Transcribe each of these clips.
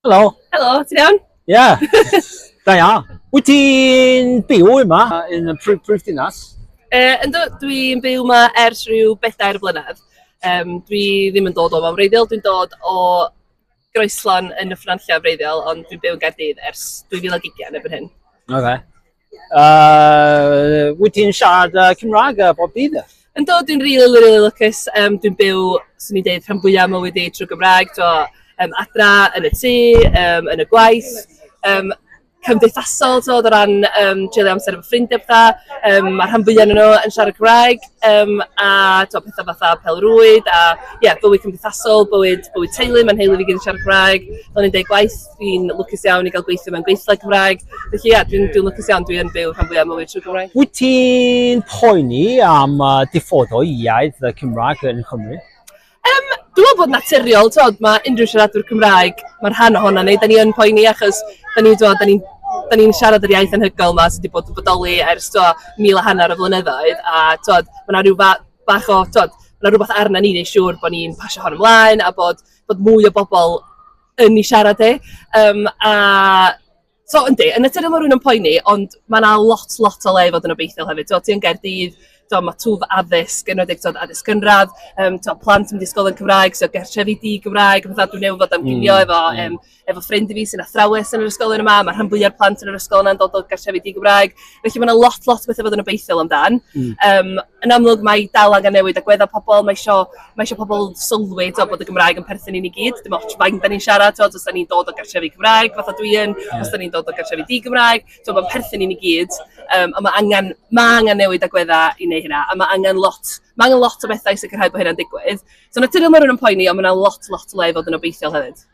Helo. Helo, ti'n iawn? Ie. Yeah. da ia. Wyt ti'n byw yma yn y prif, prif dinas? Uh, ynddo, dwi'n byw yma ers rhyw bedair blynedd. Um, dwi ddim yn dod o fan wreiddiol, dwi'n dod o groeslon yn y ffranllio wreiddiol, ond dwi'n byw yn Gaerdydd ers 2020 yn erbyn hyn. Oce. Okay. Uh, wyt ti'n siarad uh, Cymraeg uh, bob dydd? Yn dod, dwi'n rili, really, really lwcus. Um, dwi'n byw, swn i'n dweud, rhan fwyaf mywyd i trwy Gymraeg. Dwi um, adra, yn y tŷ, um, yn y gwaith. Um, cymdeithasol, so, o ran um, treulio amser efo ffrindiau pethau. Um, mae rhan fwyaf nhw yn siarad Cymraeg, um, a to, pethau fatha pelrwyd, a yeah, bywyd cymdeithasol, bywyd, bywyd teulu, mae'n heulu fi gyd yn siarad Cymraeg, do'n i'n dweud gwaith Dwi'n lwcus iawn i gael gweithio mewn gweithle Cymraeg. Felly ia, dwi'n dwi lwcus iawn, dwi yn byw rhan fwyaf mywyd trwy Gymraeg. Wyt ti'n poeni am uh, diffodo iaith y Cymraeg yn Cymru? Um, dwi'n meddwl bod naturiol, tod, mae unrhyw siaradwr Cymraeg, mae'r rhan ohono ni, da ni yn poeni achos da ni, da ni da ni'n siarad yr iaith anhygoel yma sydd wedi bod yn bodoli ers to, mil a hanner o flynyddoedd a tod, mae yna rhyw fa bach o, tod, mae yna rhywbeth arna ni neu siŵr bod ni'n pasio hon ymlaen a bod, bod mwy o bobl yn ei siarad e. Um, a So, yndi, yn y tydyn mae rhywun yn poeni, ond mae yna lot, lot o le i fod yn obeithiol hefyd. Ti'n ti yn Gaerdydd, ti'n mae twf addysg, yn wedi'i ti'n addysg gynradd, um, ti'n plant yn disgol yn Cymraeg, ti'n gertrefi di Gymraeg, fatha dwi'n newid fod am gynio mm, efo, mm. um, efo ffrind i fi sy'n athrawes yn yr ysgol yn yma, mae rhan fwyaf plant yn yr ysgol yna'n dod o gertrefi di Gymraeg, Felly mae yna lot, lot o bethau fod yn obeithiol amdan. Mm. Um, yn amlwg mae dal angen newid agweddau pobl, mae eisiau, mae eisiau pobl sylwi to, bod y Gymraeg yn perthyn i ni gyd. Dim ots faint da ni'n siarad, to, os da ni'n dod o gartrefi Gymraeg, fath o dwi yn, yeah. os da ni'n dod o gartrefi di Gymraeg, to, mae'n perthyn i ni gyd. Um, a mae angen, mae angen newid agweddau i wneud hynna, a mae angen lot, mae angen lot o bethau i sicrhau bod hynna'n digwydd. So naturiol mae rhywun yn poeni, ond mae yna lot, lot o le i fod yn obeithiol hefyd.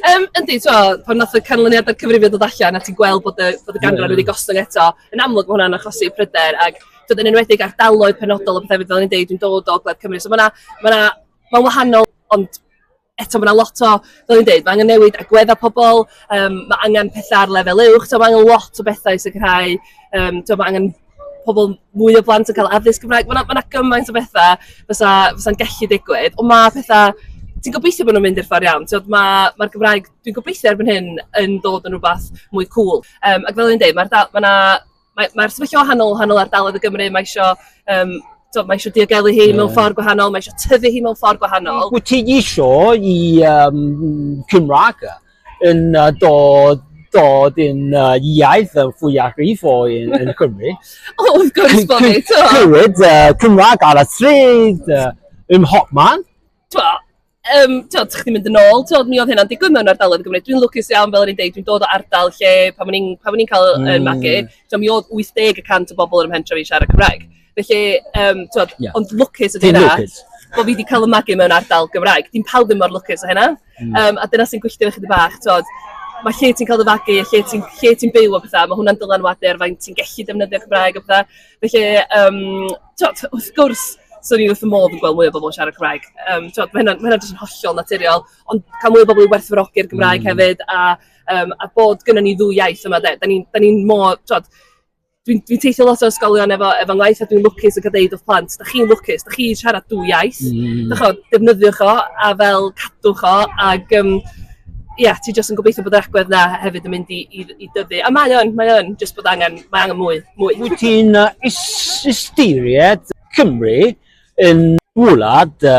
Um, yndi, twa, pan nath y canlyniadau cyfrifio dod allan a ti'n gweld bod y, bod y ganran wedi gostwng eto, yn amlwg mae hwnna'n achosi pryder ac dod yn enwedig ar daloedd penodol o bethau fel ni'n deud, dwi'n dod o Gled Cymru. So mae yna, ma wahanol, ond eto mae yna lot o, fel ni'n deud, mae angen newid agweddau pobl, um, mae angen pethau ar lefel uwch, so mae angen lot o bethau i sicrhau, um, mae angen pobl, mwy o blant yn cael addysg Cymraeg. Mae yna, ma yna gymaint o bethau fysa, fysa'n gallu digwydd, ond mae pethau... Ti'n gobeithio bod nhw'n mynd i'r ffordd iawn. Mae'r ma, ma Gymraeg, dwi'n gobeithio erbyn hyn, yn dod yn rhywbeth mwy cool. Um, ac fel yn dweud, mae'r ma yna... Mae'r ma sefyllfa wahanol, wahanol ardaloedd y Gymru, mae eisiau um, so, mae eisiau diogelu hi yeah. mewn ffordd gwahanol, mae eisiau tyfu hi mewn ffordd gwahanol. Wyt ti eisiau i um, Cymraeg yn uh, dod dod yn uh, iaith uh, fwyafrif o yn, yn Cymru. o, wrth gwrs bod ni, to. Clywed uh, Cymraeg ar y stryd, uh, ym hopman. To, um, to, tych chi'n mynd yn ôl, to, mi oedd hynna'n digwydd mewn ardaloedd Gymru. Dwi'n lwcus iawn, fel rydyn ni'n dweud, dwi'n dod o ardal lle, pan o'n i'n cael yn mm. magu, to, mi oedd 80% y bobl yn ymhentra fi siarad Cymraeg. Felly, um, twod, yeah. ond lwcus ydy hynna. Bod fi wedi cael y magu mewn ardal Gymraeg. Dim pawb ddim mor lwcus o hynna. Mm. Um, a dyna sy'n gwylltio chi bach, twod, mae lle ti'n cael dy fagu, lle ti'n lle ti byw o bethau, mae hwnna'n dylanwadu ar fain ti'n gallu defnyddio Cymraeg o bethau. Felly, um, twod, wrth gwrs, swn i'n wrth y modd yn gweld mwy o bobl yn siarad Cymraeg. Um, twod, mae hynna'n hynna jyst yn hollol naturiol, ond cael mwy o bobl i werthfawrogi'r Gymraeg mm. hefyd, a, um, a bod gyda ni ddwy iaith yma, da ni'n ni, ni mor, twod, dwi'n dwi teithio lot o ysgolion efo, efo ngwaith a dwi'n lwcus yn cael deud wrth plant, da chi'n lwcus, da chi siarad dwy iaith, mm. da chod, defnyddiwch o a fel cadwch o ac um, yeah, ti jyst yn gobeithio bod yr agwedd na hefyd yn mynd i, i, i dyfu. A mae o'n, mae o'n, jyst bod angen, mae angen mwy. mwy. Wyt ti'n uh, ystyried Cymru yn wlad uh,